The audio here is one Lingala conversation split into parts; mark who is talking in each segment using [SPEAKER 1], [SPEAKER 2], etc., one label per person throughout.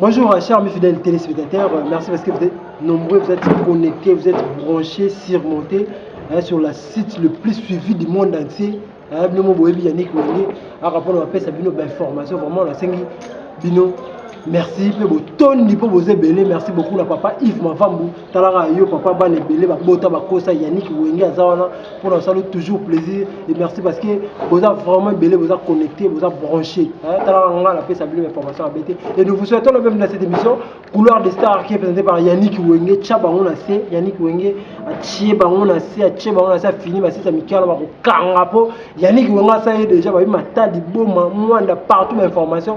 [SPEAKER 1] Bonjour, euh, chers mes fidèles téléspectateurs. Euh, merci parce que vous êtes nombreux, vous êtes connectés, vous êtes branchés, surmontés hein, sur la site le plus suivi du monde entier. Hein, bino boyebi Yannick Wenge a rapport na pesa bino ba information vraiment na sengi bino merci pe botondi po boze belé merci beaucoup na papa Yves Mavambu talaka yo papa bana ebele babota bakosa yannick wenge aza wana mpo na osali toujours plaisir et merci parce que boza vraiment ebele boza connecté boza branché talaka nga napesa bino information abe te et nous vous souhaitons la même dans cette émission couloir de star qui est présenté par yannick wenge tya bango na se yannick wenge atie bango na se atie bango na se afini basisa mikala bakokanga mpo yannick wenge asali déjà babi mata liboma mwanda partout bainformation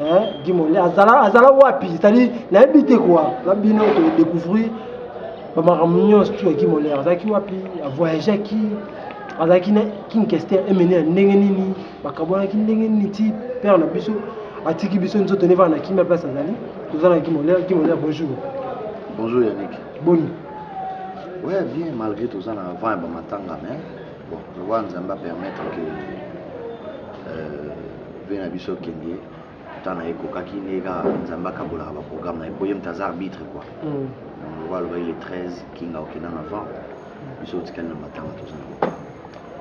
[SPEAKER 1] hein Guy Monde azala azala wapi c'est-à-dire nayebi te quoi na bino to découvrir ba makambo nyonso tu ya Guy Monde azalaki wapi a voyageaki azalaki na King Kester emene ya ndenge nini bakabwanaki ndenge nini ti père na biso atiki biso nzoto neva na kimia place azali toza na Guy Monde Guy Monde bonjour bonjour
[SPEAKER 2] Yannick boni ouais bien malgré toza na vent ya bamatanga mais Bon, lokola Nzambe a permettre que euh, vie na biso kende temps na ye ekokaki nde kaka Nzambe akabolaka ba programme na ye mpo ye moto aza arbitre quoi mm. donc lokola alobaki le 13 kinga okenda na vent biso otikali na matanga toza na matanga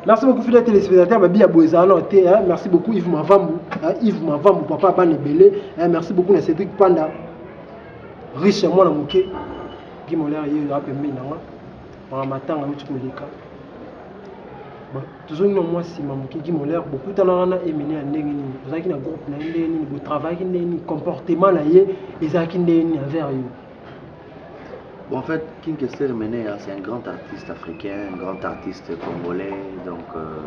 [SPEAKER 2] Merci beaucoup
[SPEAKER 1] fidèle téléspectateur babi ya boezana te hein. merci beaucoup Yves Mavambu hein. Yves Mavambu papa bana ebele hein. merci beaucoup na Cédric Panda riche mwana moke Guy Molaire ye yo apembeni na nga mawa matanga euti koleka tozongi na mwa nsima moke gi molaire bokutanaka na emene ya ndenge nini ozalaki na groupe na ye ndenge nini botravaillaki ndenge nini comportement na ye ezalaki ndenge nini envers yo
[SPEAKER 2] Bon, en fait, King Kester Menea, c'est un grand artiste africain, un grand artiste congolais, donc euh,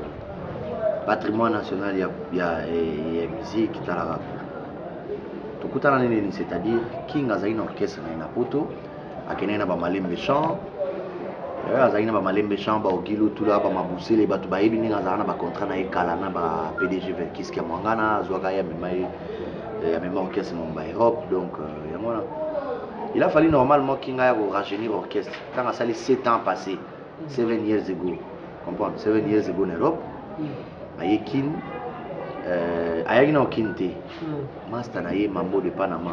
[SPEAKER 2] patrimoine national ya, ya, ya musique talaka tokutana nini c'est-à-dire king azali na orchestre na ye na poto akendaki na bamalembe champ eh, azalaki na bamalembe champ baogilu tula bamabusele bato bayebi ndenge azalaka na bacontrat na ye kala na ba pdg verkis kia mwangana azwaka ye amema ye eh, amema orchestre momba europe donc euh, yango wana il a fallu normalement kinga ya korajeunir orchestre ntango asali 7 ans passé 7 years ago comprendre 7 years ago na europe mm. aye kin euh, ayaki na okini te mm. masta na ye mambo de panama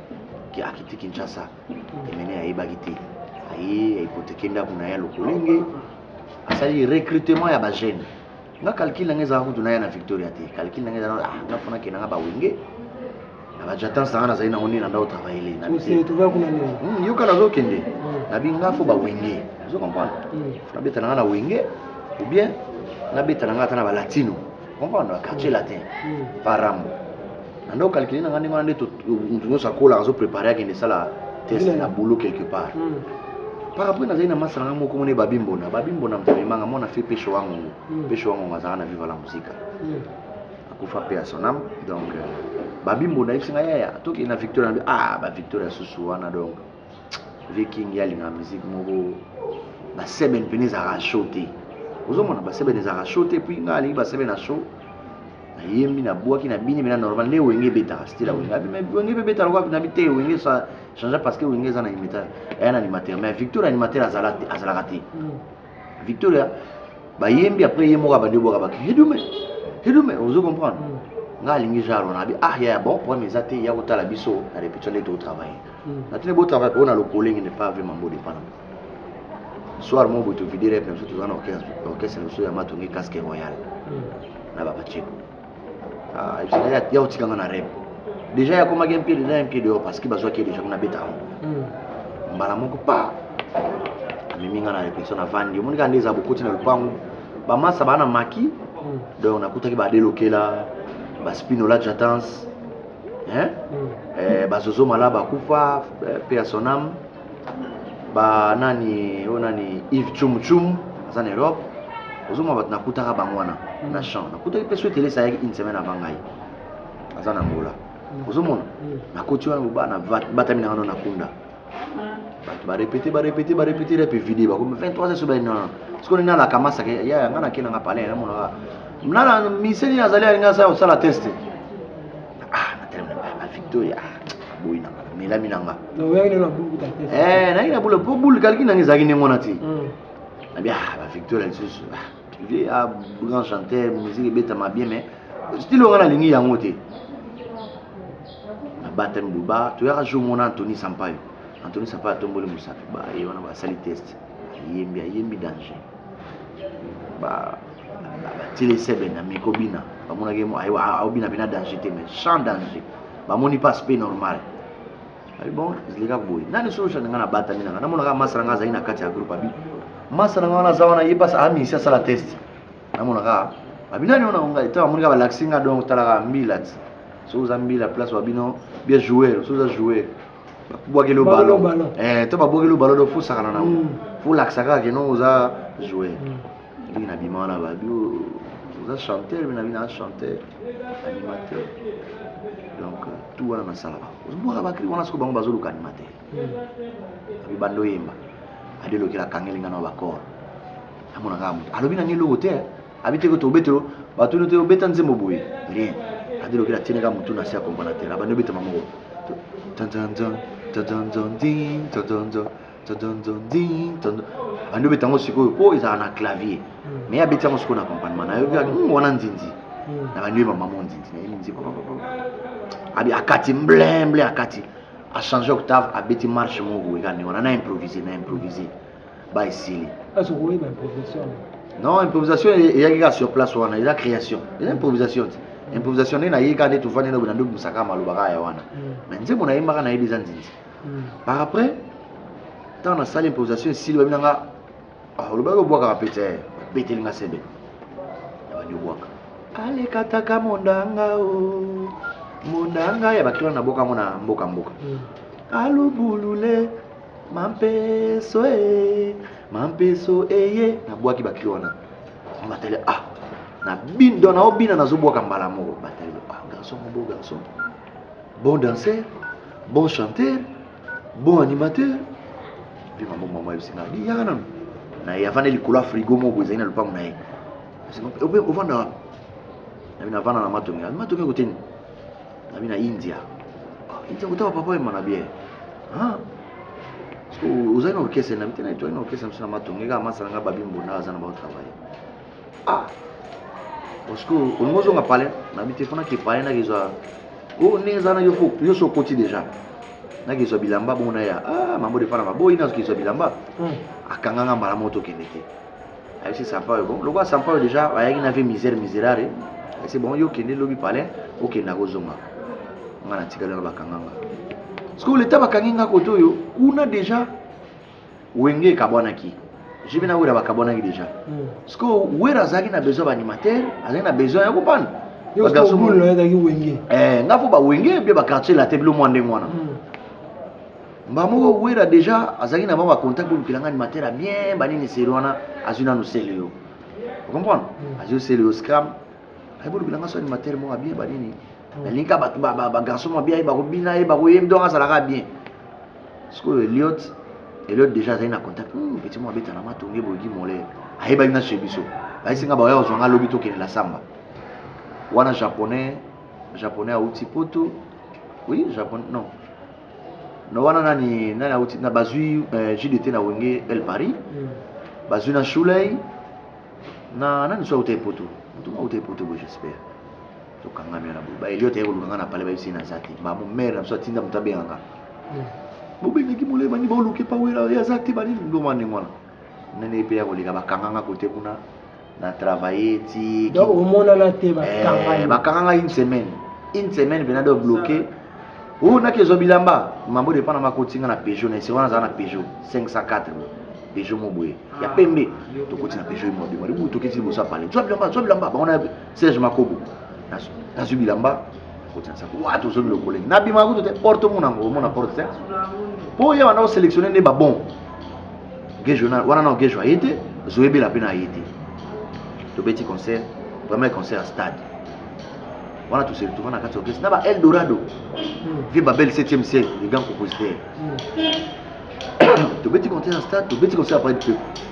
[SPEAKER 2] ke akiti Kinshasa Emeneya ayebaki te aye aipoteke ndako na ye lokolenge asali recrutement ya ba jeune nga calcul na nga ezalaka kutu naya na victoria te calcul na nga ezalaka ah, nga fona kenda nga bawenge na bajatance na nga nazali nango nde na ndako travaille
[SPEAKER 1] hmm, yoka nazokende hmm.
[SPEAKER 2] nabi nga fo bawenge ozo comprendre hmm. fona beta na nga na wenge ou bien nabeta na nga ata na balatino comprendre quartier latin parambo na ndo calcule na ngai ndenge wana nde moto nyonso akolaka azo prépare akende esala test na boulot quelque part par rapport nazali na masa na ngai moko mona babimbona babimbona mvemanga mwana fe peshe wangongo peshe wangongo azalaka na viva la musica akufa mpe ya sonam donc babimbo nayebisi ngai yaya tokende na victoria ah bavictoria susu wana donc vie king ya linga musique moko ba seben pene ezalaka show te ozomona ba seben ezalaka show te puis nga alingi ba seben na show nayembi na bwaki na bini mena normal nde wenge ebetaka stila wenge abi mais wenge mpe ebetaka lokola nabi te wenge sa change parce que wenge eza na imeta aya na animateur mais victor animateur azalaka te victoria bayembi après ye moko abandi obwaka baki hidume hidume ozo comprendre mm. nga alingi genre wana abi ah yaya bon problème eza te ya kotala biso na répétition nde totravaille mm. natuni botravaille mpo na lokolengi ne pas vraiment bodepana soir moko boye tovidere na biso toza na orchestre na biso ya matongi casque royal mm. na babaceko Ah, ebisaka ya ya otika nga na rêve déjà yakomaki un pied dedans un pied dehors parce que bazwaki ye déjà kuna beta yango hmm. mbala moko pa amemi nga na réflexion navandi omoni kaka nde eza bokoti na lopango bamasa baa na maki hmm. donc nakutaki badelokela baspinola jatance hmm. eh, bazozo mala bakufa eh, pe ya soname ba nani oyo nani Yves Chum Chum aza na Europe ozomona bato nakutaka bango wana na mm. champ nakutaki mpe soki telesa ayaki une semaine avant ngai aza na ngola mm. ozomona mm. nakoti wana bobana batami na ngano nakunda bato barepete barepete barepete repe vide bakomi 23 so bayi nana sikoyo nini alaka masaka yaya ngai nakei nanga palin namonaka nana miseni nazali alinga sa kosala teste ah natelemi na baya bavictoria ah, boyi na ngana melami na nga
[SPEAKER 1] eh, nayaki na bula mpo
[SPEAKER 2] bulu kaliki nanga ezalaki ndenge wana te hmm. nabi ah, bavictoria lisusu ah, vie a grand chanteur musique ebetama bien mais stile onga nalingi yango te nabatami boba toyaka jour mona antony sampayo antony sampayo atomboli mosapi baye wana basali test ayembi ayembi danger ba batili sebe na miko bina bamonaki aobina bina danger te mais sans danger bamoni mpe aspect normal abi bon zilika boye nani solution na ngai nabatami na ngai namonaka masa na ngai azali na kati ya groupe abi masa na ngai wana aza wana ye mpasi amisi asala test namonaka abi nani ona ngai ntango amonika balakisi ngai donc talaka mbila ti soki oza mbila place wa bino bia joueur soki oza joueur babwakeli obalo to babwakeli obalo do fosakana nango folakisa kaka keno oza joueur Ndenge na bima wana ba bio oza chanteur mais na bina chanteur animateur donc tout wana nasalaka ozomona bakri wana soko bango bazoluka animateur hmm. abi bando yemba ade lokela kangeli nga na bakor amona kaka moto alobi na ngai eloko te abi te koto obetelo batuni te obeta nzembo boye rien ade lokela tiene kaka motu na se ya komponatere abandi obetama moko tantanzan tantanzan tantanzan bandi obeta yango sikoyo mpo ezalaka na clavier hmm. mais abeti yango sikoyo na accompagnement nayoki hmm, wana nzinzi hmm. na bandi oyeba mama nzinzi nayebi nzinzi abi akati mblemble akati achange octave abeti marche moko ekani wana na improvise na improvise ba esili
[SPEAKER 1] non improvisation
[SPEAKER 2] eyaki kaka sur place wana eza création eza improvisation te improvisation nde nayei kaka nde tofandi nde obina nde obimisa kaka maloba kaka ya wana mais nzembo nayembaka nayebi eza nzinzi par après ntango nasali improvisation esili babi na nga ah, olobaki obwakaka pete eh, beteli nga sebe abandi obwaka alekataka mondanga o oh, mondanga ya bakilona na boka yango na mboka mboka hmm. alubulule mampeso e eh, mampeso eye eh, nabwaki bakilo wana matali ah na bindo na obina nazobwaka mbala moko batali ah garçon mobo garçon bon danseur bon chanteur bon animateur mpe mambo mama yebisi ngai di yaka nanu na ye avanda likolo ya frigo moko ezali na lopango na ye ope ovanda wapi nabi navanda na matongi abi matongi ekoteni nabi na india ah, india kotaka papa yema na biere ah. ozali na orchestre nabi te na etwali na orchestre mosu na matongi kaka masala ngai babi mbonda aza na baotravaille Ah. Osiko olingi ozonga pale na bi telefona ke pale na kezwa o oh, ndenge eza na yo fo yo so okoti deja na kezwa bilamba bongo na ya ah mambo defana maboyi na kezwa bilamba hmm. akanga nga mbala moko tokende te ayebisi sampayo bon lokola sampayo deja ayaki na vie misère miserare ayebisi bon yo okende lobi pale okenda kozonga nga natikali wana bakanga nga parce que leta bakangi nga kote oyo kuna deja wenge ekabwanaki jibe na wera bakabwanaki deja hmm. sikoyo wera azalaki na besoin baanimateur azalaki na besoin ya kopana
[SPEAKER 1] eh, nga fo bawenge
[SPEAKER 2] mpe baquartier late bilo mwa ndenge wana hmm. mbaa moko wera deja azalaki na bango bacontact bolukela nga animateur ya bien banini seri wana azwi nanu sele yo ocomprendre hmm. azwi sele yo scram ayebolukela nga so animateur moko ya bien banini nalingi kaka bato bagarçon ba, ba, mabia ye bakobina ye bakoyembi donc azalaka bien sikoyo eliot eliot déjà azali na contact hmm, petit mo abetana matonge bogi mole ayebaki na chez biso bayesi nga baoya kozwa nga lobi tokende na samba wana japonais japonais auti poto oui japonais non na wana nani nani auti na bazwi euh, jdt na wenge el paris hmm. bazwi na shulei na nani so auta epoto motu auta epoto boye j'espère tokangami wana boye ba eliot aye koluka nga na pale bayebisi ye naza te ba momere na biso atinda moto abenga nga hmm. bobengaki molai bani baoluki pa wera ye aza te banini ndoma ndenge wana nani ye mpe ya koleka bakanga nga kote kuna na travaille ti donc omonana
[SPEAKER 1] te bakanga eh, bakanga nga
[SPEAKER 2] une semaine une semaine mpena do bloqué oyo oh, naki ezwa bilamba mambo depana makoti nga na peugeot na ese wana azala na peugeot 504 peugeot mo boye ya ah, pembe tokoti na peugeot ye mwa bimwa libutu toketi liboso ya pale zwa bilamba zwa bilamba bango na serge makobo nazwi bilamba kotia nsaku wa tozongi lokolenge nabimaka kutu te porte omona yango omona porte te mpo oyo wana oselectionne nde babon gejo wana nao gejo aye te zoyebela mpe na aye te tobeti concert premier concert ya stade wana tose retrouva na kati ya orchestre na ba eldorado hmm. vie babel 7e ciel le grand compositeur hmm. tobeti concert ya stade tobeti concert ya près du peuple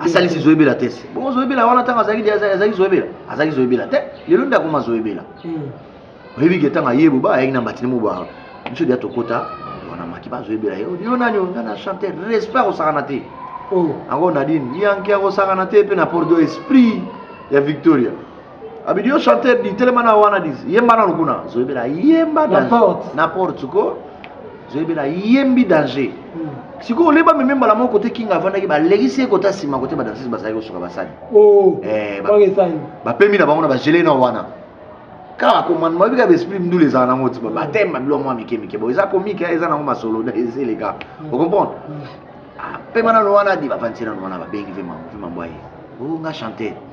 [SPEAKER 2] asalisi zoyebela te se bongo zoyebela wana ntango azalaki azalaki zoyebela azalaki zoyebela te lelo nde akoma zoyebela hmm. oyebi ke ntango aye boba ayaki na mbatini moba biso dia tokota wana maki bazoyebela ye yo nani nga na chanteur respect akosakana te yango oh. nadine yanke akosakana te mpe na pordo esprit ya victoria abidi yo chanteur di telema na wana dis yemba nanu kuna zoyebela yemba na porte ko zoyebela yembi danger hmm. sikoyo oleba meme mbala moko kote kinga avandaki balekisi ye kota nsima kote badansis bazalaki kosuka basani oh, eh, bapemi na bango na bagele na wana kaka komanda mayebi kaka baesprit mdule ezala nango ti batema bilo mwa mike mike bo eza komika eza nango masolo ezeleka hmm. ocomprendre hmm. apema ah, nano wana di bavandisi nano wana babengi ve mambo ye o oh, nga chanter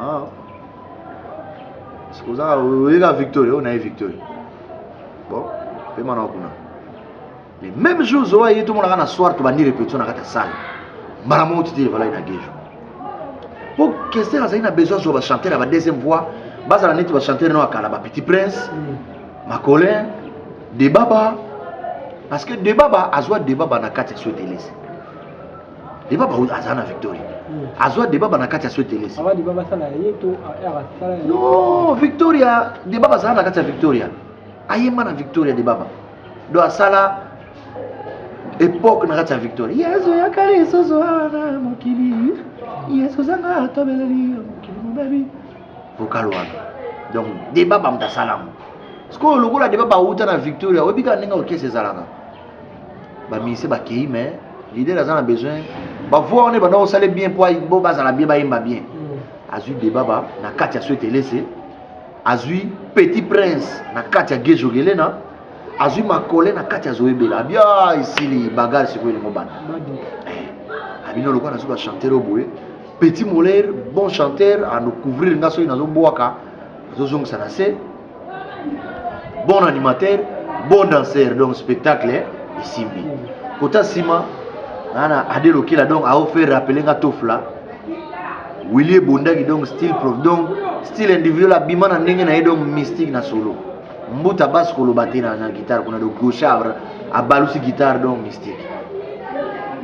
[SPEAKER 2] Ah. Oza oyeka Victory, on a Victory. Bon, pe mana kuna. Le même jour zo ayi to monaka na soir to bandi répétition na kata salle. Mara mo titi vala ina gejo. Po kester azali na besoin zo ba chanter ba deuxième voix, bazala neti ba chanter no akala ba petit prince, mm. makolin, debaba parce que debaba azwa debaba na kati ya sotelesi. deba bauti aza na victoria hmm. azwa deba ba na kati ya sotelesi ah, no victoria deba bazala na kati ya victoria ayemba na victoria debaba do asala epoke na kati ya victoria yesu yakali esoso awa na mokili yesu ozanga atobeleli ya mokili mobebi vokal wana donc deba bamoto asala yango sikoyo lokola deba bauta na victoria oyebika ndenge orkese ezalaka ba musicien ba keyi mais leader aza na besoin ba voix wana banda osala bien po bo bazala bien bayemba bien mm. azui debaba na kati ya swete elese azui petit prince na kati ya gejogelena azui makole na kati ya zoyebela abia ah, esili bagare sikoyo elingo bana eh, abino lokola nazoki bachanteur oyo boye petit moler bon chanteur anocouvrir nga soki nazobwaka azozongisa na se bon animateur bon danseur donc spectacle eh, esimbi kota nsima nana ade lokela donc aofaire rappele nga tofla wili ebondaki donc style prof donc style individuel abima na ndenge na ye donc mystique na solo mbuta basi koloba te na, na guitare kuna donc gauchard abalusi guitare donc mystique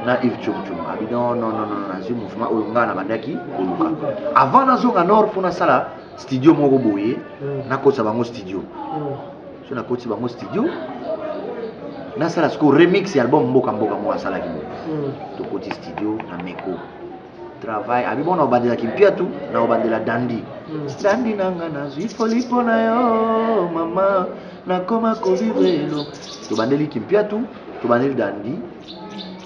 [SPEAKER 2] na ive chomchom abi non non non nazwi mouvement oyo ngai nabandaki koluka avant nazonga nord mpo nasala studio moko boye mm. nakotisa bango studio mm. so nakotisi bango studio nasala sikoyo remix ya album mboka mboka moko asalaki boye mm. tokoti studio na meko travail abi bona obandela kimpiatu na obandela dandi mm. dandi nanga nazwi foli mpo na yo mama nakoma kolivelo tobandeli kimpiatu tobandeli dandi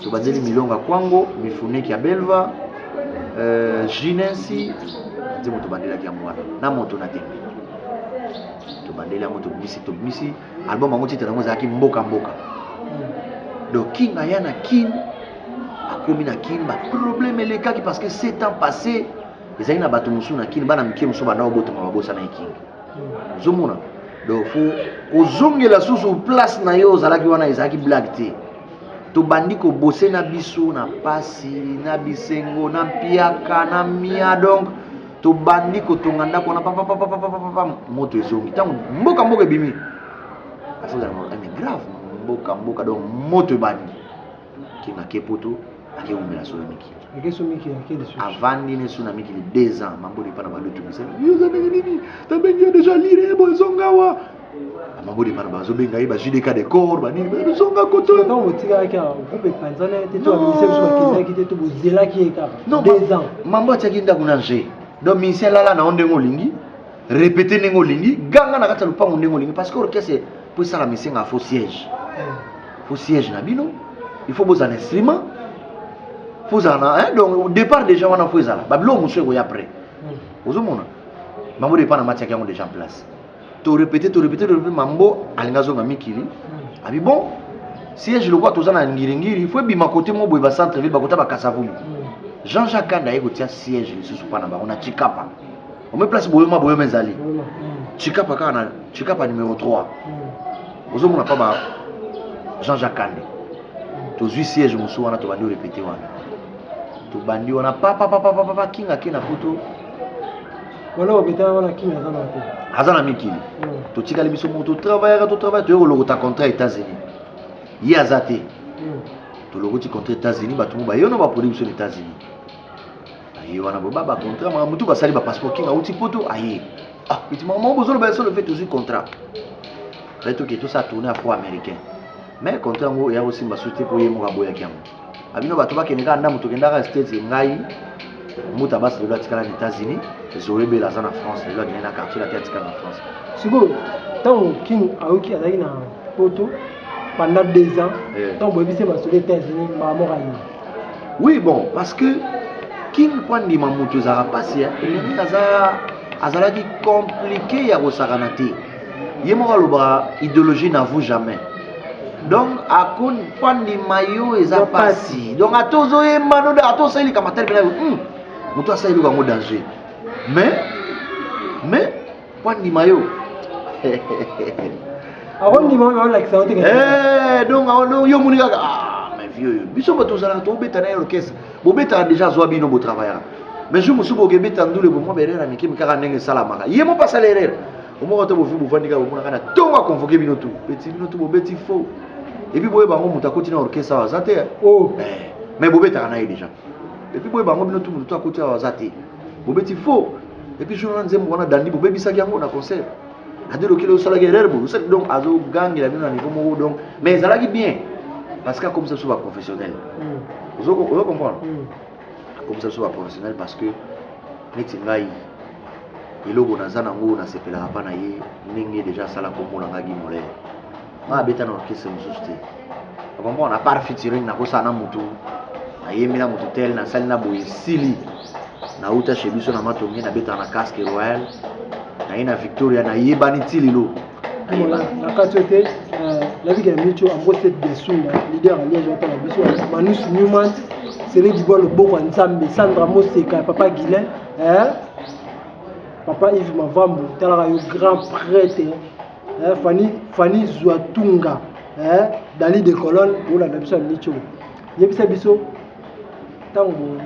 [SPEAKER 2] tobandeli milonga kwango mifuneki ya belva euh, jinensi nzembo tobandelaki yango wana na moto na tembe tobandeli yango tobimisi tobimisi album yango titre yango ezalaki mboka mboka donc king aya na kin akomi na kin baproblème elekaki parce que sept ans passé ezalaki na bato mosusu na kin bana mike mosusu banda obotonga babosanaki king ozomona donc fo kozongela susu place na yo ozalaki wana ezalaki blague te tobandi kobose na biso na pasi na bisengo na mpiaka na mia donc tobandi kotonga ndako wana papapapapapapa moto ezongi ntango mboka mboka ebimi asozala eh, grave mboka mboka donc moto ebandi ke make poto ake wumela suna mikili ake so mikili ake
[SPEAKER 1] lisusu avandi ne suna
[SPEAKER 2] mikili deux ans mambodi epa na balutu misala yoza ndenge nini tabengi yo deja lire ye boye zongawa mabodi bana bazobenga ye ba jdk de corps banini bazonga kotontango botikaki awa
[SPEAKER 1] groupe epanzana ye te to baminise biso bakendaki te to bozelaki ye kaka deux ans mambo atiaki ndako na
[SPEAKER 2] nje donc minisi alala na yo ndenge olingi répété ndenge olingi ganga na kati ya lopango ndenge olingi parce que orchestre mpo esalama esengaka fo siège fo siège na bino il faut bozala instrument fo ozala na eh, donc départ déjà wana fo ezala babiloko mosusu ekoya après hmm. ozomona mambo depa na matiaki yango déjà en place to répété to répété to répété mambo alinga azonga mikili hmm. abi bon siège lokola toza na ngiringiri il faut ebima kote moko boye bacentre ville bakota bakasavulu hmm. jean jacques kanda aye kotia siège lisusu mpa na bango na chikapa ome place boyoma boyoma ezali chikapa kaka na chikapa numero 3 ozomona pa ba jean jacques kande tozwi siège mosusu wana tobandi orepete wana tobandi wana papapapapapa kinga ke na poto
[SPEAKER 1] aza na
[SPEAKER 2] mikili hmm. totikali biso moko totravaillaka totravaille toye kolokota contrat ya états-unis ye aza te hmm. tolokoti contrat états-unis bato mo bayono baproduit biso na états-unis aye wana boba ba contrat makambo tu basali ba passeport kinga uti poto aye ah peti makambo yango bozoloba ya solo mpe tozwi contrat mpe toke tosala tourne ya fo américain mais contrat yango eya kosimba su te mpo ye moko aboyaki yango abino bato bakende kaka ndambo tokendaka states ngai mbuta basi lelo atikala na états-unis zoe bela aza na france lelo akende na quartier laki atikala na france sikoyo
[SPEAKER 1] ntango king ayoki azalaki na poto pendant deux ans ntango boyebisi ye masolo états-unis mbala moko aye Oui bon
[SPEAKER 2] parce que king mpo andima moto ezalaka mpasi elenge aza azalaki komplike ya kosakana te ye moko alobaka idéologie na vous jamais donc akoni mpo andima yo eza mpasi donc ata ozoyemba no ata osali likambo atali mpena yo moto asali eloko yango danger mais mais Mpo andima yo.
[SPEAKER 1] akondima oyo olakisa yo te eh, donc
[SPEAKER 2] yo omoni kaka ah, mais vieux oyo biso bato ozalaka tobeta na ye orchestre bobetaka déjà azwa bino botravaillaka mais jour mosusu bokebeta ndule bomwa baerere ya mike mikaka ndenge esalamaka ye moko asala erere omoko te bovi bovandi kaka bomonaka na ntongo akonvoke bino tu beti bino tu bobeti faux epuis boyeba yango moto akoti na orchestre awa aza te oh. eh, mais bobetaka na ye déjà epuis boyeba yango bino tu moto tu akoti awa aza te bobeti faux et puis jour wana nzembo wana dandi bobebisaki yango na concert ade lokele osalaki erreur boye osali donc azogangela bino na niveau moko donc mais ezalaki bien parce que akomisa biso baprofessionnel hmm. ozo comprendre hmm. akomisa biso baprofessionnel parce que neti ngai eloko naza nango nasepelaka mpa na ye ndenge deja asala kombo na ngai gimolere nga abeta na orchestre mosusu te okomprendre apart featuring nakosala na motu nayembi na motu tel nasali na boye sili nauta chez biso na matonge nabetaka na casque royal naye na victoria nayebani ti lelo na
[SPEAKER 1] kati oyo te nayebi kena micho ambose biasunda lider ya liège atala biso manus newman sele dibwa loboko ya nzambe sandra moseka ya papa guilin papa ive mavambu talaka yo grand prêtre eh, fani fani zwa tunga eh, dali de colonne olanda biso ya mico yebisa biso ntango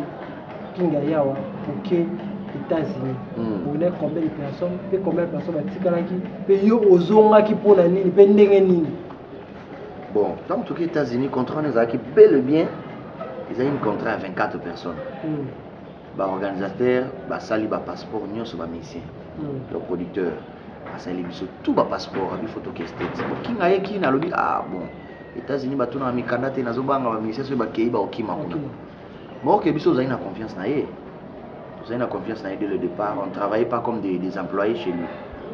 [SPEAKER 1] kinga yawa oke états-unis mm. ovenait combien de personnes mpe combien de personnes batikalaki mpe yo ozongaki mpo na nini mpe ndenge
[SPEAKER 2] nini bon ntango toki états-unis contrat wana ezalaki bel et bien ezalaki une contrat ya 24 personnes mm. ba organisateur basali ba passeport nyonso ba musicien mm. le producteur asali biso tout ba passeport abi photo kestate bokinga ye kina alobi ah bon états-unis batunaka mikanda te nazobanga ba musicien soki bakei baokima kuna baoke biso ozali na confiance na ye ozali na confiance na ye dès le départ on travaille pas comme des, des employés chez lui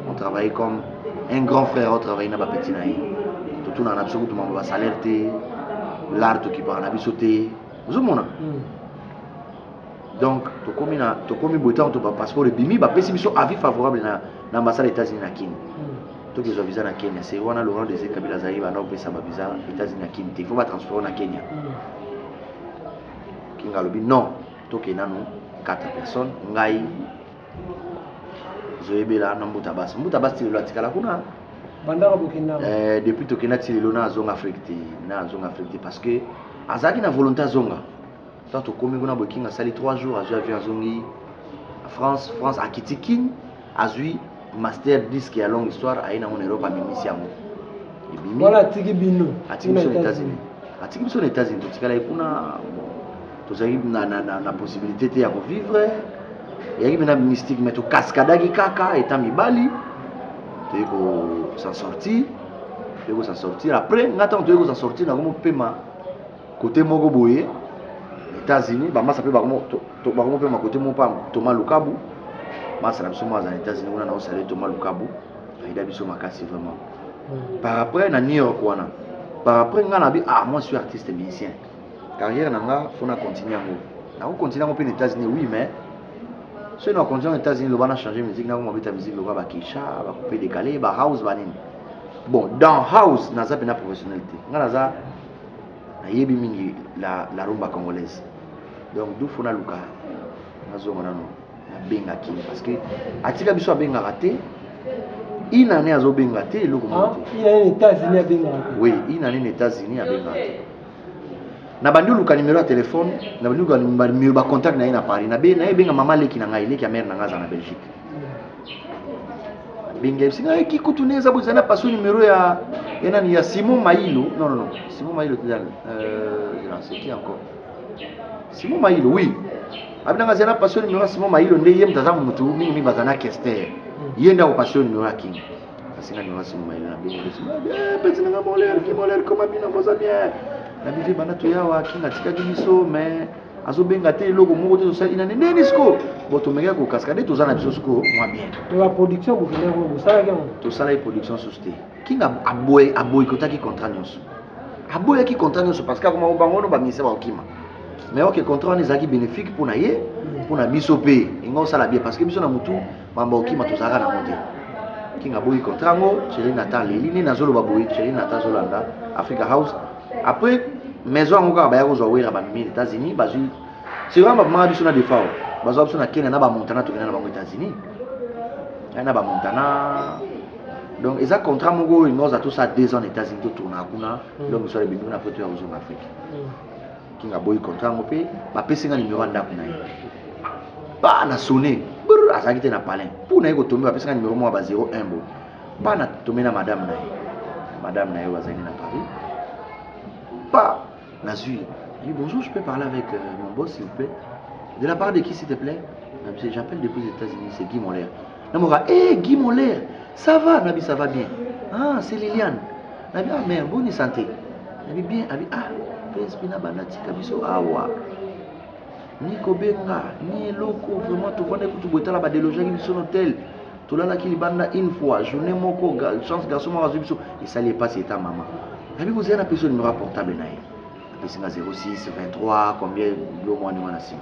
[SPEAKER 2] on travaille comme un grand frère otravaille na bapeti na ye totunaka na biso kutu mambo basalaire te lar tokipaka na biso te ozomona hmm. donc tokomi na tokomi boye ntango to bapasseport ebimi bapesi biso avis favorable na, na ambassade ya états-unis na kini hmm. tokezwa visa na kenya se wana laurent dese kabila azali banda kopesa bavisa états-unis na kini te fo batransport na kenya hmm. kinga alobi non tokei nanu 4 personnes ngai zoyebela na mbuta basi mbuta basi tilelo atikala kuna bandaka bokenda
[SPEAKER 1] eh, depuis tokenda
[SPEAKER 2] tilelo na azonga afrique te na azonga afrique te parce que azalaki na volonté azonga to tokomi kuna bokinga asali 3 jours azwi avion azongi france france akiti kin azwi master disque ya longue histoire aye nango na europe amemisi yango ebimi atiki biso na états-unis totikala ye kuna tozalaki na, na, na, na possibilité te ya kovivre eyaki mpena mystique mais tokaskadaki kaka eta mibali toyei kosan sortir toyei kosan sortir après nga ntango toyei kosan sortir na komo pema kote moko boye états-unis bamasa mpe bakomo pema kote moko mpa toma lukabu masa na biso moko azala états-unis kuna na osale toma lukabu ayida biso makasi vraiment hmm. par après na new york wana par après nga na bi ah moi suis artiste musicien carrière na nga faut na continuer yango nako continuer yango mpe na états-unis oui mais soki na continuer na états-unis loba na changer musique nako mabeta musique loba bakisha bakupe décalé ba house banini bon dans house naza mpena professionnel te nga naza nayebi mingi la, la rumba congolaise donc dufu naluka nazonga nano abengaki ye parce que atika biso abengaka te une année azobenga te eloko moko te Ah, il a un États-Unis
[SPEAKER 1] à Bengala. oui une année na états-unis
[SPEAKER 2] abengaka te na bandi oluka numero ya telefone na bandi oluka num- ba numero bacontact na ye na paris na be- na ye ebenga mama leki na ngai leki ya mare na ngai aza na belgique benga bisinga ayeki kutu ne eza boza na paso numero ya ya nani ya simon mailo non non non simon mailo te nani euh, non, c'est qui encore Simon Mayilo oui abinanga zela passion numéro Simon Mayilo nde ye mutaza mutu mingi mingi bazana kester ye nda passion numéro ya king asinga numéro Simon Mayilo na bingo de Simon eh petit nanga moler ki moler koma bina boza bien na bivi bana toyawa king atikaki biso mais azobenga te eloko moko te tosali na nini nini siko bo tomekaki kokaska nde toza na biso siko mwa bien
[SPEAKER 1] tosalaki production
[SPEAKER 2] susu te king aboye aboyikotaki contrat nyonso aboyaki contrat nyonso parce que akoma bango no baminisa bakokima mais oke contrat wana ezalaki bénéfique mpo na ye mpo na biso mpe inga osala bien parce que biso na motu mambo okima tozalaka nango te king aboyi contrat yango cheri nata aleli nini azoloba boye cheri nata azolanda africa house après maison yango kaka baya kozwa wera bamemi na états-unis bazwi sikoyo babimaka biso na defao bazwa biso na kenya na bamontana tokenda na bango états-unis na bamontana donc eza contrat moko oyo noza tosa deux ans na états-unis totournaka kuna mm. donc mosala ebimi kuna apres toya kozonga afrique mm. kinga boyi contrat yango mpe bapesi nga nimero ya ndako na ye ba na sonne azalaki te na palin mpo na ye kotombe bapesi nga nimero moko ya ba 01 bo ba na tombe na madame na ye madame na ye oyo azalaki na paris ba nazwi ye bonjour je peux parler avec euh, mon boss s'il vous plaît de la part de qui s'il te plaît j'appelle depuis les états-unis c'est guy molaire na moka eh Guy Molaire ça va nabi ça va bien ah c'est Liliane nabi ah mère boni santé nabi bien abi ah prince pina banda tika biso awa ah, ni kobenga ni eloko vraiment tofandaki kutu boye tala badelojaki biso na hotel tolalaki libanda une fois journée moko chance garçon moko azwi biso esali epasi eta mama nabi kozela na peso numero ya portable na ye apesi nga 06 23 combien biloko mwana wana nsima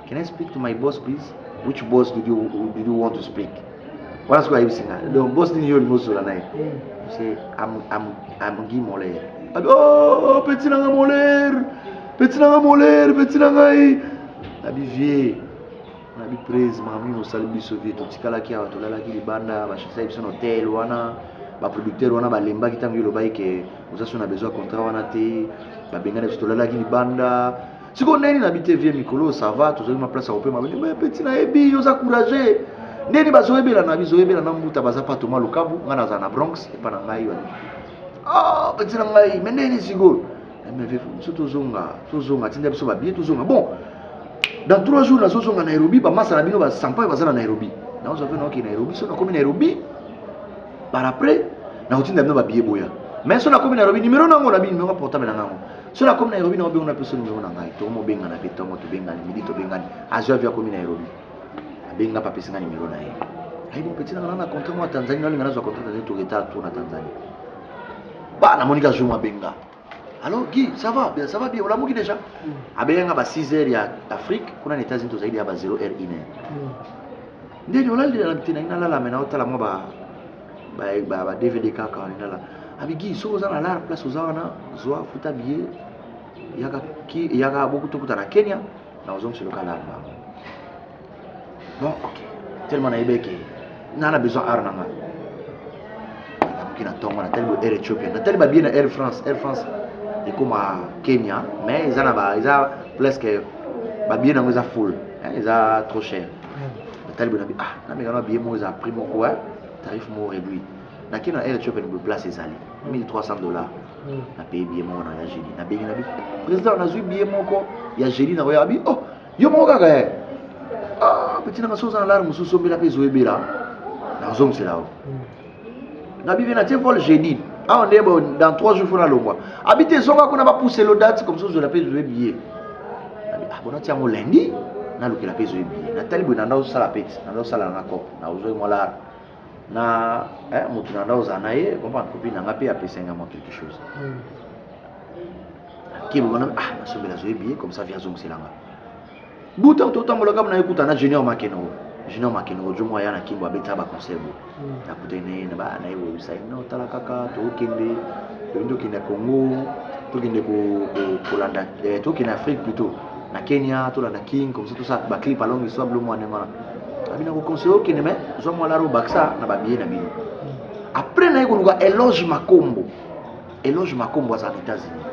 [SPEAKER 2] Can I speak to my boss please? Which boss did you, did you want to speak? Wana sikoyo ayebisi nga. Donc boss nini yo olingi osola na ye? C'est am am am Guy Moler. Abi oh petit na nga Moler. Petit na nga Moler, petit na ngai. Abi vieux. On abi prise mami osali biso vieux totikalaki awa tolalaki libanda bashakisaki biso na hotel wana baproducteur wana balembaki ntango yo olobaki ke oza so na besoin ya contrat wana te babengana biso tolalaki libanda siko ndeni na bite vie mikolo ça va tozali ma place ya kopema bende mais petit na yebi yo za courage ndeni bazoyebela na bizoyebela na mbuta baza pa toma lukabu ngai nazala na bronx epa na ngai wana ah petit na ngai mais ndeni siko eh, mais vieux biso tozonga tozonga tinda biso babie tozonga bon dans trois jours nazozonga nairobi bamasa na bino basampayo baza na nairobi naozwa mpe naoke nairobi so nakomi nairobi par après nakotinda bino babie boya mais so nakomi nairobi numero nango na bino numero portable na ngango so nakomi nairobi naobengo na peso nimero na ngai toko mobengana mpe ntongo tobengani midi tobengani azwi avi akomi nairobi abenga mpe apesi ngai nimero na ye ayibo mpeti nanga nanga contrat mwa tanzanie nalinga nazwa contrat tanzanie toureta tour na tanzanie ba namoni ka zuma abenga alors guy ça va bien ça va bien olamuki déjà mm. abenganga ba 6 heures ya afrique kuna na états-unis tozali deya ba 0 heure 1 heure mm. ndeni olali na bitena inalala me naotala mwa ba ba ba dvd kaka wana nala abigi soki oza na lar place oza wana zwa futa billet yaka ki yaka boku tokuta na Kenya na ozongi selo kala ba bon ok tellement na yebeke na na besoin ar na nga namuki na tongo na tali bo air Ethiopia na tali ba billet na Air France Air France ekoma Kenya mais eza na ba eza presque ba billet nango eza full eza trop cher natali boye nabi ah nameka na billet moko eza na prix moko e tarif moko réduit nake na air ethiopien boye place ezali 1300 dollars na paye billet moko na ya génie nabengi nabi président nazwi billet moko ya génie na oya abi oh yo moko kaka e ah petit nanga so oza na lare mosusu ombela mpe ezoyebela nazongisela yo na bive na tie vol jeudi awa nde bo dans 3 jours fona longwa abi te zonga kuna bapousse lo date comme ça ozwela mpe ezwe billet abi ah bona ti yango lundi nalukela mpe ezwe billet natali boye nanda osala mpe ti nanda osala na cop na ozwaki mwa lar na eh, motu nanda ozala na ye comprendre kopi nanga mpe apesanga mwa quelque chose hmm. kilo wana ah nasombela azwi billet comme ça vi azongiselanga buta totambola kaka na ye kuta na junior makenoro junior makenoro jomo aya na kimbo abetisa baconcert bo hmm. nakutani na ye na baya na ye boyebisa ye no tala kaka tokende toyei tokende congo tokende kolanda eh, tokende afrique plutôt na kenya tolanda king comme ça tosala baclip alongi so ablo mwa ndenge wana abi nakoconseille okende mai zwa mwa laro bakisa na babiye na bino hmm. après naye koluka eloge makombo eloge makombo aza na états-unis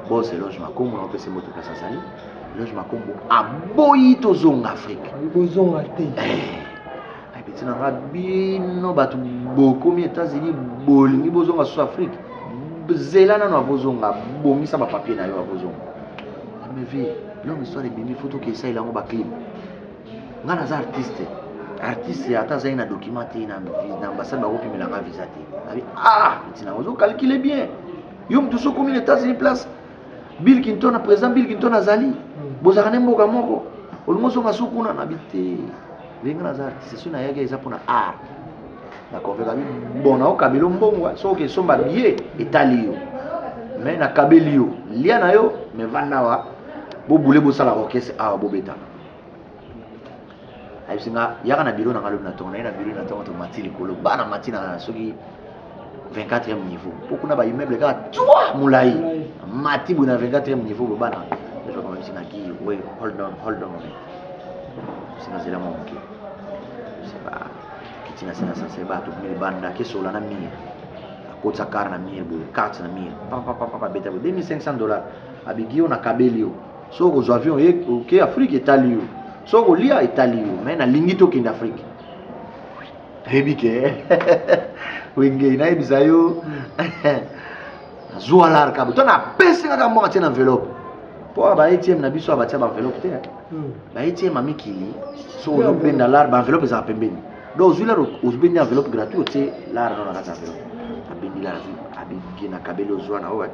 [SPEAKER 2] bos eloge makombo na opesa moto place azali George Makombo aboyi tozonga Afrique. Bozonga te.
[SPEAKER 1] Eh,
[SPEAKER 2] ayebeti na nga bino bato bokomi États-Unis bolingi bozonga sous Afrique zela nano akozonga bongisa bapapier na yo akozonga amevi longue histoire ebimi fo toke esalela yango baclip ngai naza artiste artiste ata azali na document te na ambassade bakopimela ngai visa te abi ah ntina ozokalkile bien yo moto sokomi na états-unis place bill kinton na président bill kinton azali hmm. bozalaka nde mboka moko olingi ozonga su kuna na bi te ndenge naza artiste soki nayaki eza mpona art nakonvekami bon naokabelo mbongwa soki okesomba biye etali yo me nakabeli yo lia na yo me vandawa bobule bosala orchestre awa bobetana ayebisi nga yaka na biro na nga lobi na tongo naye na biro na tongo tomati likolo ba na mati na soki 24e niveau mpo kuna ba immeuble kaka tua molai mati boye na 24e niveau boye bana ezokomamisi na ki we hold on hold on moment sinazela mwa moke seba kiti na se na sase bato bomi libanda kesola na mire akotisa kar na mire boye karte na mire papapapapa beta boye 2500 dollar abigi yo na kabeli yo soki okozwa avion oye oke afrike etali yo soki okolia etali yo mai nalingi tokende afrike nayebi ke wenge nayebisa yo nazwa larka to napesi kaka mboka tie na enveloppe mpo awa ba atm na biso abatia ba enveloppe te hmm. ba atm ya mikili soki ozobenda lar ba enveloppe ezala pembeni donc ozwi lar obendi enveloppe gratuit otie lar no na kati ya enveloppe abendi lar abendi na kabeli ozwa na oyo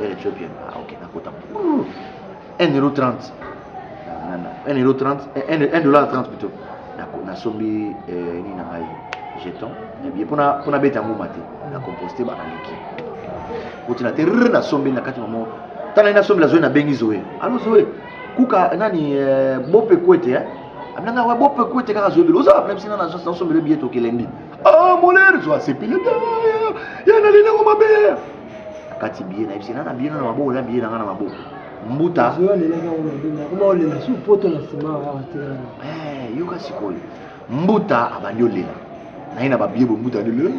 [SPEAKER 2] Air Ethiopian. Ah, ok, d'accord. 1,30€. 1,30€, 1,30$ plutôt. D'accord, na sombi euh, ni na ngai jeton. Et bien pona pona beta ngoma te. Na composter ba liki. Kuti na te na sombi na kati mamo. Tana na sombi la zoe na bengi zoe. Allo zoe. Kuka nani euh, bope kwete hein. Amnanga wa bope kwete kaka zoe. Oza ba problème sina na na sombi le billet okelendi. Ah, moler zo asepile. Ya na lina ngoma be. nakati biye na yebisi nga na biye na maboko na biye na nga na maboko mbuta
[SPEAKER 1] eh, yoka
[SPEAKER 2] sikoyo mbuta abandi olela naye na babiye boye mbuta alela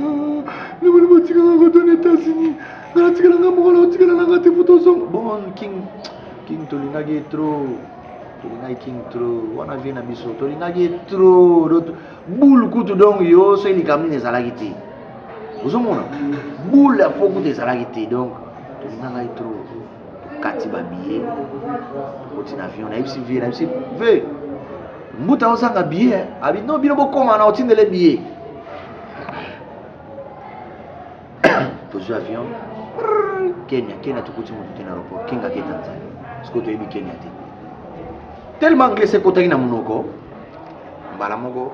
[SPEAKER 2] nabali ah, botikaka koto na etats-unis natikala nga moko na otikala na nga te fo tozonga bon king king tolingaki ye trop tolingaki king trop wana vie na biso tolingaki ye trop boule kutu donc yo soki likambo nini ezalaki te ozomona boule ya fo kuta ezalaki te donc tolinga ngai trop tokati babiye tokoti na avion nayebisi vie nayebisi ve mbuta ozanga biye eh. abi no bino bokoma na otindele biye tozwi avion kenya kenya tokuti motu te na aéroport kinga ke tanzanie siko toyebi kenya te tellement anglais ekotaki na monoko mbala moko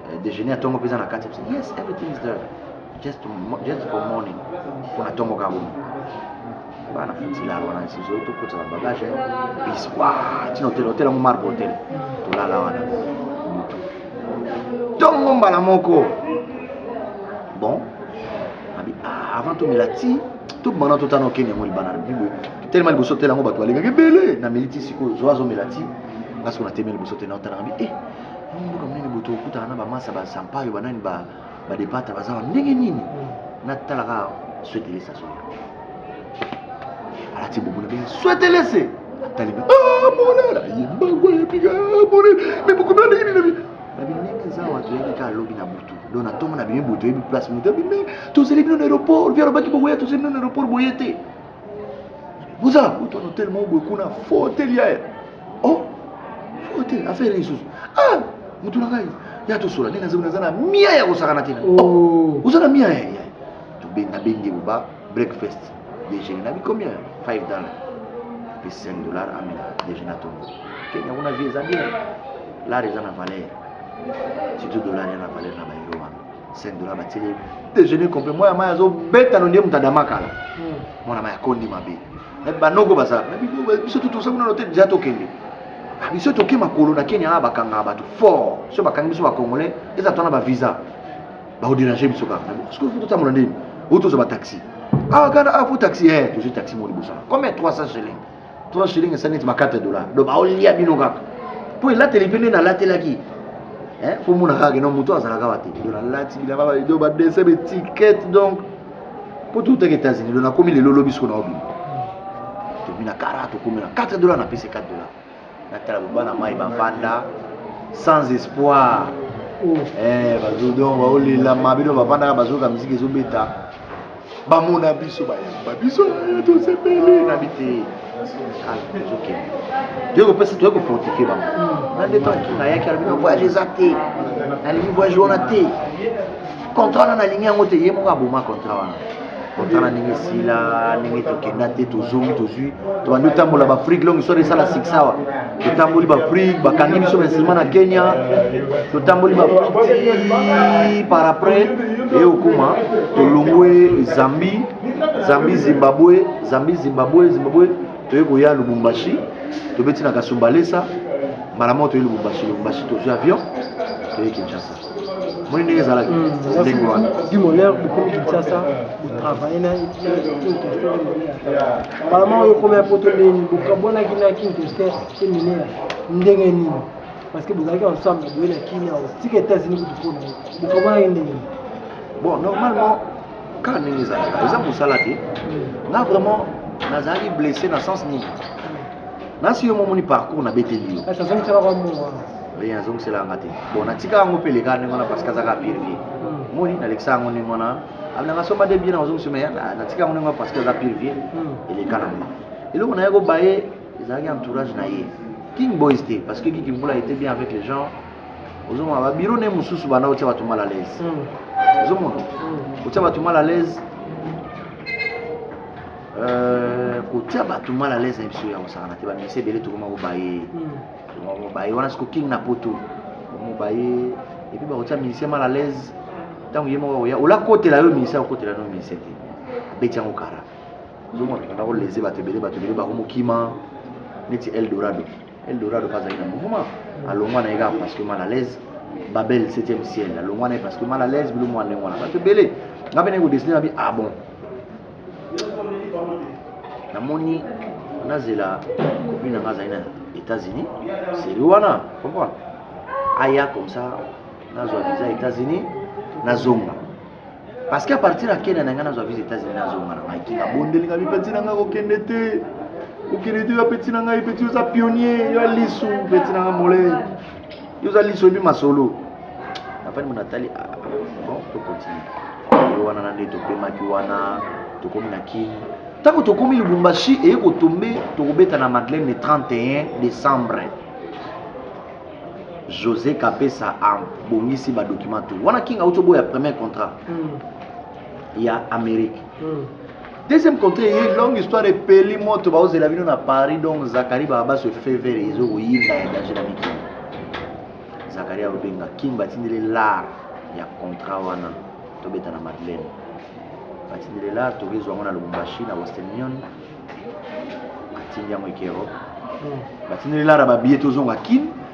[SPEAKER 2] eh, déjeuner ya tongo mpe eza na kati yes everything is there just, just for morning mpo na tongo kaka bomi bana fitila wana sizo tokota na bagage bis wa tina hotel hotel yango marbre hotel tolala wana motu tongo mbala moko bon abi ah, avant tomela ti tobanda totana okende yango libana bibo telema liboso hotel yango bato balekaki ebele na militi sikoyo zwa azomela ti nga siko na teme liboso te na otala ngabi e eh, Mimi mboka munene boto okutana na ba masa ba sampayo ba nani ba ba depata baza ndenge nini mm. na talaka swetelesa so alati bobo na bien swetelese atali ba ah monala yemba gwa yepika bore me boku na ndenge nini na binenge za wato yebi ka lobi na butu do na tongo na bimi butu yebi place mutu bimi tozeli bino na aéroport via robaki boboya tozeli bino na aéroport boyete Vous avez un hôtel mon beaucoup na faux hôtel hier. Oh, faux hôtel, affaire les choses. Ah, mutu na ngai. Ya to sola nina zona zana mia ya kosakana tena. Oh, uzana mia ya. To benga bengi buba breakfast. Déjeuner na bi combien? 5 dollars. Puis 5 dollars amena déjeuner to. Kenya kuna visa bien. Là, ils ont la valeur. Surtout dollar, il y a la valeur là-bas. 5 dollars batili ye déjeuner complet mwana mai azobeta no nde moto adama kala hmm. mwana mai akondi mabe me banoko baza biso tutosa kuna lote deja tokende ah, biso toke makolo na kenya na bakangaka bato fort so bakangi biso bacongolais eza twana bavisa baoderange biso kaka na bongo soki totambola ndeni oyo tozwa bataxi awa ah, kana apo ah, taxi e eh, tozwi taxi mo liboso na comme 300 shilling 3 shilling esali neti ba 4 dollars donc baolia bino kaka mpo elateli mpe nde nalatelaki eh, mpo mona kaka keno moto azalaka wa te do nalati bilamba balido badese betikete donc mpo toutaki états-unis do nakomi lelo lobi siko naobima tobina kara tokomi na 4 dollars napesi 4 dollars natala boba na mai bavanda sans espoir eh, bazodon baolela mabino bavandaka bazoyoka miziki ezobeta bamona biso bayamba biso eh, tosepeli na bite tozokende toye kopesa toye kofortifie bango na nde ntango kinga ayaki alobi na voyage eza te nalingi voyage wana te contrat wana nalingi yango te ye moko aboma contrat wana contrat na ndenge esila ndenge tokenda te tozongi tozwi tobandi otambola baafrike longi soki esala succès awa totamboli baafrike bakangi biso bainstrument na kenya totamboli baafrike par après eye okoma tolongwe zambie zambie zimbabwe zambie zimbabwe zimbabwe toye koya lubumbashi tobeti na kasumbalesa mbala moko toye lubumbashi lubumbashi tozwi avion toye kinshasa moni ndenge ezalaki ndenge wana du monheur bokomi
[SPEAKER 1] kinshasa botravaille na kintoster malama oyo okomi ya poto ndenge nini bokabwanaki na kintoster te mineur ndenge nini parce que bozalaki ensemble boye na kimia otika états-unis kutu mpona yo bokabwanaki ndenge nini bon
[SPEAKER 2] normalement kaka ndenge ezalaka eza mosala te nga vraiment nazalaki blessé na sens nini
[SPEAKER 1] nasi yo
[SPEAKER 2] momoni parcours
[SPEAKER 1] na
[SPEAKER 2] beteli yo ye azongisela yanga te bon natika yango mpe leka ndenge wana parce kazaka pire vie hmm. moni nalekisa yango ndenge wana abinanga soma de bien nazongisi me natika yango ndenge wana parce aza pire vie hmm. eleka na nga eloko na ye kobaye ezalaki entourage na ye king boys te parce que kiki mbula était bien avec les gens ozomona babiro ne mosusu banda otya bato mal à l'aise hmm. ozomona otya bato mal à l'aise Euh, kotia bato mal à l'aise na biso ya kosakana te bamisi ebele tokoma kobaye hmm. mobaye wana siko king na poto mobaye epuis bakotia ministère mal à l'aise ntango ye moko akoya olakotela yo ministère okotela no ministère te abeti yango kara ozomona kolese bato ebele bato ebele bakomokima neti eldorado eldorado mpe azali na mouvement hmm. alongwa na ye kaka parce que mal à l'aise babel 7e ciel alongwa na ye parce que mal à l'aise bilo mwana ndenge wana bato ebele ngai mpe naye kodesine babi ah bon namoni nazela kopi na nga azali na états-unis seri wana comprendre aya comme ça nazwa visa états-unis nazonga parce que à partir ya kenya na ngai nazwa visa états-unis nazonga na ngai kinga bondeli ngai mipeti na ngai kokende te kokende te bapeti na ngai peti oza pionnier yo alisu peti na ngai mole yo oza liso oyebi masolo afani mona atali ah, ah, bon tokontinue yo wana nande topemaki wana tokomi na kin ntango tokomi lubumbashi eye kotombe tokobeta na madeleine le 31 décembre josé kapesa abongisi badokima to wana king auti oboya premier contrat mm. ya amérique mm. deuxième contre ye longue histoire epeli moto baozela bino na paris donc zakari babas efevere ezo koyinda ya danger na mikili zakari akobenga king batindeli lar ya contrat wana tobeta na madeleine batindeli lar tokezwa yango na lubumbashi na western union atindi yango eke europe batindeli lar ya babiye tozonga kin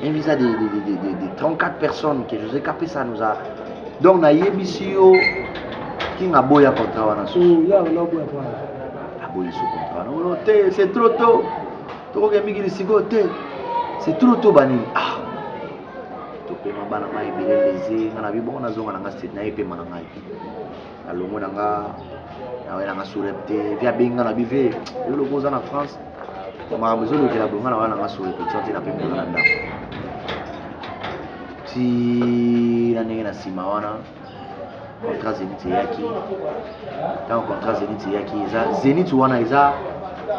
[SPEAKER 2] un visa de, de, de, de, de 34 personnes que josé kapesa nous a donc nayebisi yo king aboya contrat wana susu aboyi su contrat nono te c'est trop tôt tokoke mingi lisiko te c'est trop tôt banini ah topema bana ngai ebele leze nga na bibongo nazonga na ngai state naye epema na ngai alongo na nga nawe na nga surep te vi abenga na bive yo lokola oza na france makambo ezolukela bonga na wana na nga surep ti wana te napembola na ndako ti na ndenge na nsima wana contrat zenit eyaki ntango contrat zenit eyaki eza zenit wana eza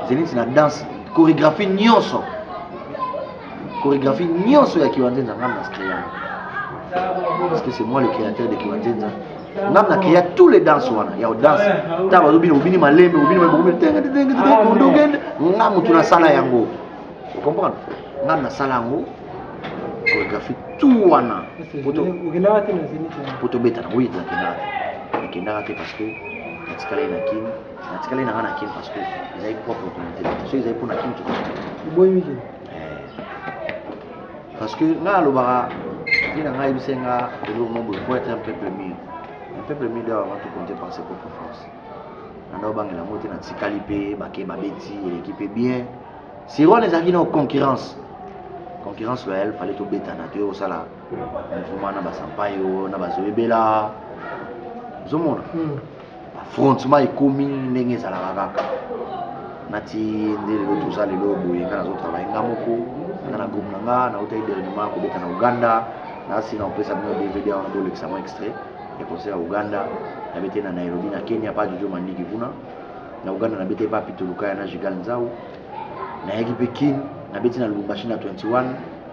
[SPEAKER 2] zenit na danse chorégraphie nyonso chorégraphie nyonso ya kiwanzenza ngai na scream parce que c'est moi le créateur de kiwanzenza ngam na keya tous les danse wana ya danse ntango bazobina obini malembe obini mabokomi tenge tenge tenge kondogende nga motu nasala yango okomprendre ngam nasala yango chorégraphie tout wana po tobeta nango ye nakendaka te nakendaka te parce que natikala ye na kin natikala ye na nga na kin parce que ezali propre communauté soki ezali mpo na kin tokoboyi mikili parce que ngai alobaka ye na ngai yebisa nga eloko moko boye faut être un peuple mur un peuple mur d'ailleurs avant tout compte par ses propres forces nanda obangela yango te natikali mpe bake babeti eleki mpe bien siron ezalaki na concurrence concurrence loyale fale tobetana toye kosala mouvement na basampayo na bazoyebela ozomona hmm. affrontement ekomi ndenge ezalaka kaka nati nde lelo toza lelo boye nga nazo travaille nga moko nga na groupe na nga nautaki dernièrement kobeta na uganda nasi na kopesa bino dvd wana bolekisa mwa extrait ya concert ya uganda nabete na nairobi na kenya pa jojo mandiki kuna na uganda nabete pa pitolukaya na jigal nzau nayaki mpe kin nabeti na lubumbashi na 21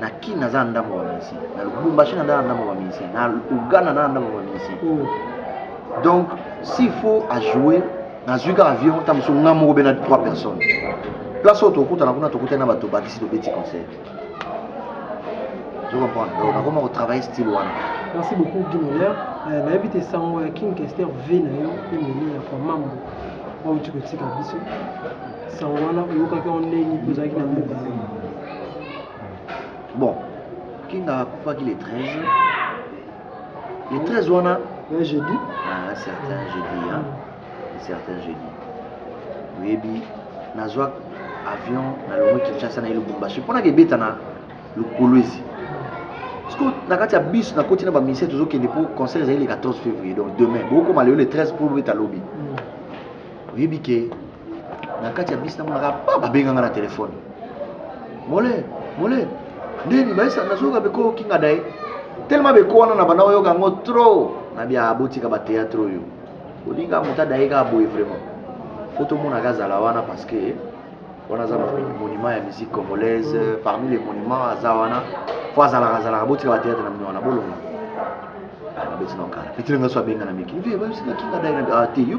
[SPEAKER 2] na kin naza na ndambo ya musicien na lubumbashi naza na ndambo ya musicien na uganda naza na ndambo ya musicien oh. donc s'il faut ajoue nazwi kaka avion ntango mosusu nga moko bena 3 personnes place oyo tokutana kuna tokutani na bato bakisi tobeti concert ozo comprendre donc nakoma kotravaille style wana merci
[SPEAKER 1] beaucoup guy miller euh, nayebi te sango ya king kester v na yo emeli ya kwa mambo oyo tikotika biso sango wana oyokaki yango
[SPEAKER 2] ndenge nini mpo ozalaki na mboka bon kinga akufaki le 13 le 13 wana un jeudi
[SPEAKER 1] ah, certain
[SPEAKER 2] jeudi hein? Mm. certain jeudi oyebi nazwa avion nalongo kinshasa na ye lubumbashi mpo naka ebeta na lukolwezi parceque na kati ya bus nakoti na bamisele tozokende mpo concert ezali le 14 février donc demain bokokoma lelo le 13 mpo bobeta lobi mm. oyebi ke na kati ya bisi namonaka pa babenganga na telefone mole mole ndeni baisa nazoyoka beko okinga daye telema beko wana na banda oyoka yango trop na bia abotika bateatre oyo olinga moto adaye kaka boye vraiment fo tomonaka azala wana parce que wana aza monument ya musique congolaise parmi les monuments aza wana fo azalaka azalaka botika bateatre na mino wana bolonga ah, na beti na okala petile ngaso abenga na miki vie bayosinga kinga daye na ah, te yo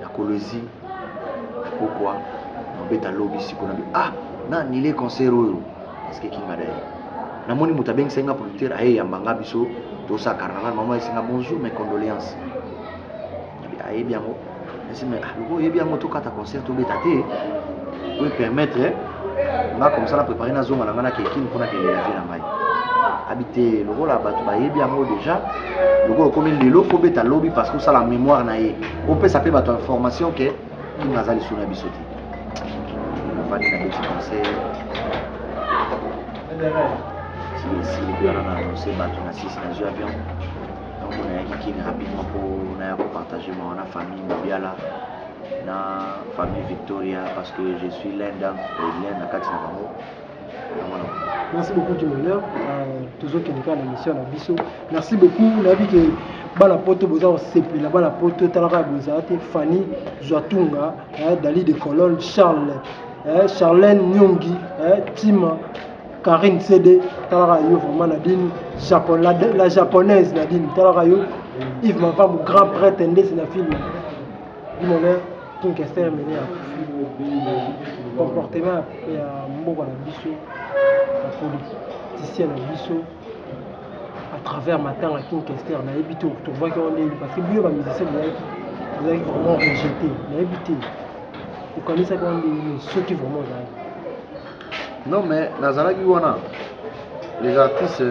[SPEAKER 2] na kolwezi na kokwa na obeta lobi siko na ah na annule concert oyo parce que kinga daye namoni moto abengisaki nga producteur aye yamba nga biso tosala carnaval mama esinga bonjour mes condoléances ayebi yango esi mais ah, lokola oyebi yango tokata concert tobeta te oyo permettre nga comme ça na préparer na zonga na nga na kekin mpona kende na vie na ngai abi te lokola bato bayebi yango déjà lokola okomi lelo fo beta lobi parce que osala mémoire na ye opesa mpe bato information ke kinga aza lisolo ya biso te nafandi na beti conseil silikuana na annonce bato na sisi na zwi avion donc nayaki kini rapidement mpo naya kopartage mawa na famille mobiala na famille Victoria parce que je suis l'un d'un l'un na kati na bango
[SPEAKER 1] merci beaucoup du bonheur euh, tozokende kaka na mission na biso merci beaucoup nayebi ke bana poto boza kosepela bana poto etalaka ya bozala te fanny zwatunga eh, dali de colone charles eh, charlene nyongi eh, tima Karine CD, talaka yo vraiment Nadine, Japon, la, la japonaise Nadine, talaka yo Yves Mavamou, grand prêtre ndesi na film. Imene King Kester Imene ya comportement ya mboka na biso ya politicien na biso à travers matanga King Kester nayebi te tovoyaki yango ndenge parce que biyo bamusicien boyaki ozalaki vraiment rejeté nayebi te okanisaki yango ndenge nini soki vraiment ozalaki non mais
[SPEAKER 2] nazalaki wana les artistes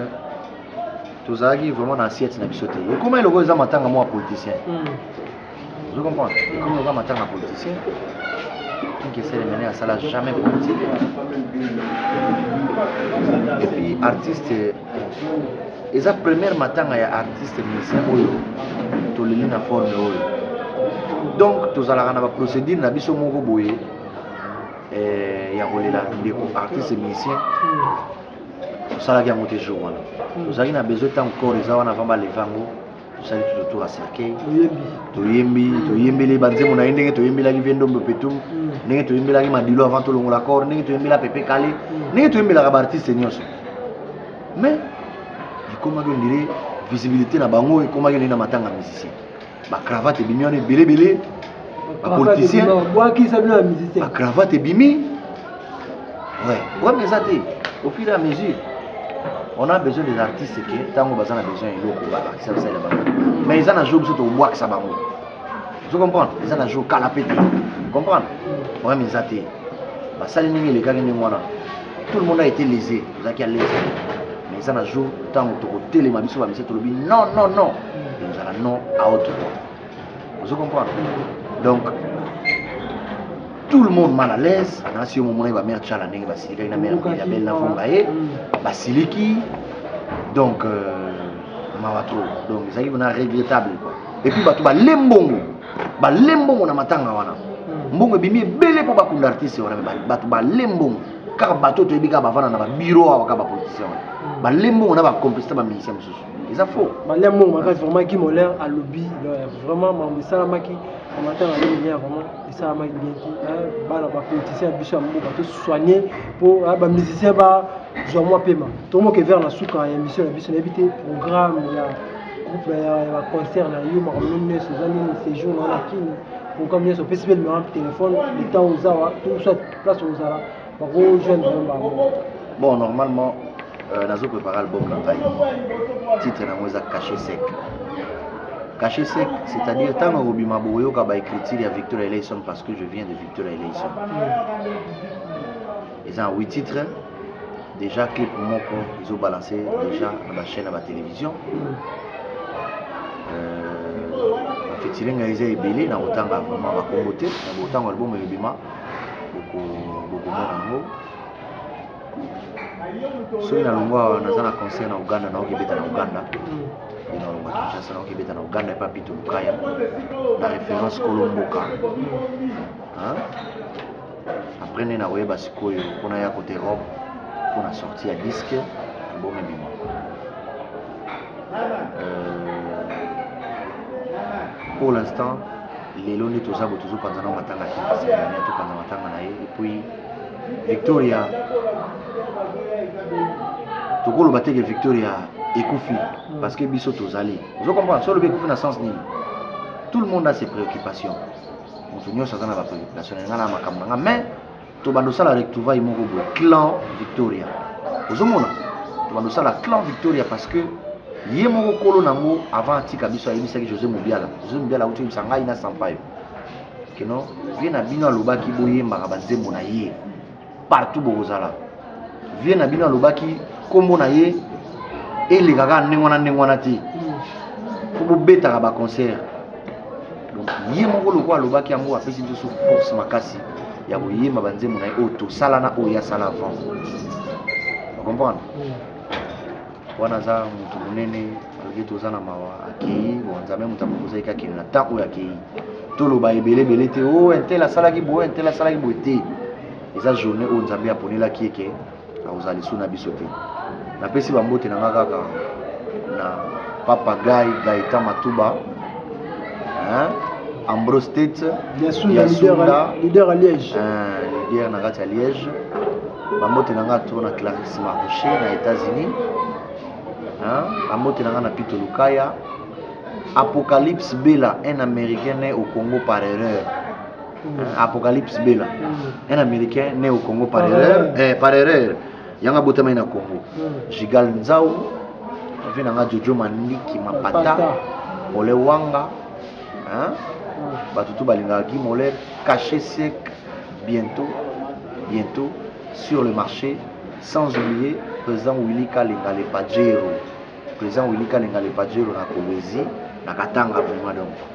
[SPEAKER 2] tozalaki vraiment na assiette na biso te ekomaki lokola eza matanga mwa politicien hmm. ozo comprendre ekomi lokola matanga ya politicien kinkeselemene asala jamais politique epuis artiste eza première matanga ya artiste musicien oyo toleli na forme oyo donc tozalaka na baprocédure na biso moko boye eh, ya kolela ndeko artiste musicien hmm. tosalaki yango te jour wana hmm. tozalaki na besoin ntango corps eza wana avant baleva yango tosali tutotura cercueil toyembi hmm. toyembeli banzembo na ye ndenge toyembelaki vie ndombe petu hmm. ndenge toyembelaki madilo avant tolongola corps ndenge toyembela pepe kale ndenge toyembelaka baartiste nyonso mais ekomaki ondire visibilité na bango ekomaki ondire na matanga musicien ba cravate ebimi wana ebele ebele ba politicien bwakisa bino ya musicien ba cravate ebimi ouais problème eza te au fur et à mesure on a besoin des artistes ke ntango baza na besoin ya eloko babakisa bisalela bango mais eza na jour biso tokobwakisa bango ozo comprendre eza na jour kala mpe te comprendre problème eza te basali ndenge elekaki ndenge wana tout le monde a été lésé tozalaki à l'aise mais eza na jour ntango tokotelema biso bamisi tolobi non non non ekozala non à autre point ozo comprendre donc tout le monde mal à l'aise anasi yo momonaki bamere tshala ndenge basilikaki na mere ya belle navonga ye basiliki donc euh, mawa trop donc ezalaki mpona regrettable quoi et puis bato balembongo balembongo na matanga wana mbongo ebimi ebele mpo bakunda artiste wana bato balembongo kaka bato oyo toyebi kaka bavanda na babiro awa kaka bapolitisien wana hmm. balie mbongo na bacomplicité baministère mosusu eza faux balia mbongo makasi vraiment
[SPEAKER 1] kimoler alobi vraiment mambo esalamaki na matanga alobi bien vraiment esalamaki bien ti bana bapolitisien ya biso ya mboka tosoigne mpo bamusicien bazwa mwa mpema tomoke vers na suka ya émission na biso nayebi te programme ya groupe ya baconcert na yo makambo nini nyonso eza nini séjour na wana kini programme nyonso opesi mpe limero telefone etant ozawa to soit place ozala bako joindre bango bon
[SPEAKER 2] normalement euh, nazo prépare album na ngai titre nango eza cache sec cache sec c'est-à-dire ntango akobima bokoyoka baécriture ya victor eleison parce que je viens de victor eleison hmm. eza na 8 titre déjà clip moko ezobalanse déjà na bachaîne ya batélévision hmm. euh, bafetilenga eza ebele na kotanga vraiment bakongo te na botango album ebima bokomona yango soki nalongwa awa naza na concert na uganda naoki ebeta na uganda e nalongwa kinshasa naoki ebeta na uganda epa pito lukaya na référence kolo mboka après nde nakoyeba sikoyo mpo naya kote europe mpo na sorti ya diske album ebima euh, pour l'instant lelo nde toza bo tozopanza na matanga te sefania topanza matanga na ye epuis victoria tokoloba teke victoria ekufi mm. parce que biso tozali ozo comprendre so olobi ekufi na sens nini tout le monde a ses préoccupations moto nyonso aza na bapréoccupation na ngai na makambo na ngai mais tobanda osala retrouvaille moko boye clan victoria ozomona tobanda osala clan victoria parce que ye moko kolo nango avant atika biso ayebisaki josé mobiala josé mobiala auti oyebisa ngai na sampayo keno ye na bino alobaki boyembaka banzembo na ye partout bokozala vie na bino alobaki nkombo na ye eleka kaka ndenge wana ndenge wana te mpo bobetaka baconcert donc ye moko lokola alobaki yango apesi biso force makasi ya koyemba banzembo na ye oyo tosala na oyo asala avant okomprendre wana aza moto monene alobi toza na mawa akei bon nzambe moto akokozaki kakende na ntango oyo akei toloba ebele ebele te o oh, entel asalaki boye entel asalaki boye te eza journée oyo nzambe aponelaki ye ke akozala lisu na biso te napesi bambote na nga kaka na papa gai gaita matuba hein? ambrose tete yasunda
[SPEAKER 1] leader ya liège eh, leader na kati
[SPEAKER 2] ya liège bambote na nga to na clarisse marche na états-unis bambote na nga na pito lukaya apocalypse bela un américain ne au congo par erreur apocalypse bela un américain né au congo par erreur eh, par erreur yanga abotamaki na congo gigal nzau vi nanga jojo mandiki mapata pole wanga hein? bato tu balingaka guy moler cache sec bientôt bientôt sur le marché sans oublier président willy kalenga le pajero président willy kalenga le pajero na kolwezi na katanga vraiment donc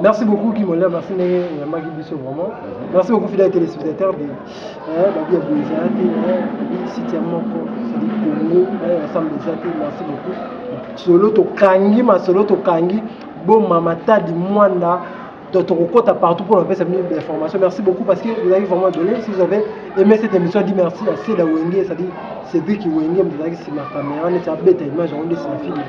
[SPEAKER 2] Merci beaucoup
[SPEAKER 1] Kimola, merci ndenge oyambaki biso vraiment. Merci beaucoup fidèle téléspectateur de eh babi ya Bouza te eh site ya moko c'est Congo eh ensemble eza te merci beaucoup. Solo to kangi ma solo to kangi bo mama tadi mwanda tokokota partout pour apesa bino information merci beaucoup parce que vous avez vraiment donné si vous avez aimé cette émission dit merci à Seda Wenge c'est-à-dire Cédric Wenge mozalaki nsima kamera neti abeta image yango nde nsima filme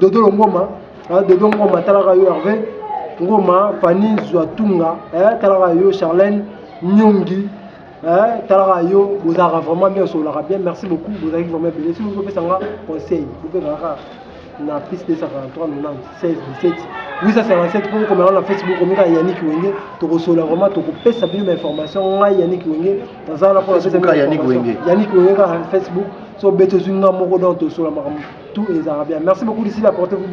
[SPEAKER 1] dodo longoma ah, dodo ngoma talaka yo herve ngoma fani zwa tunga eh, talaka yo charlene nyongi eh, talaka yo bozalaka vraiment bien osololaka bien merci beaucoup bozalaki vraiment ebele soki bopesa nga conseil bopekaka na plus 243 96 17 857 mpo okomela na facebook omi kaka yannick wenge tokosola vraiment tokopesa bino bainformation ngai yannick wenge naza wana mpo
[SPEAKER 2] yannick wenge kaka
[SPEAKER 1] facebook so bete zui nga moko donc tosola makambo tout ezalaka bien merci beaucoup d'ici là portez vous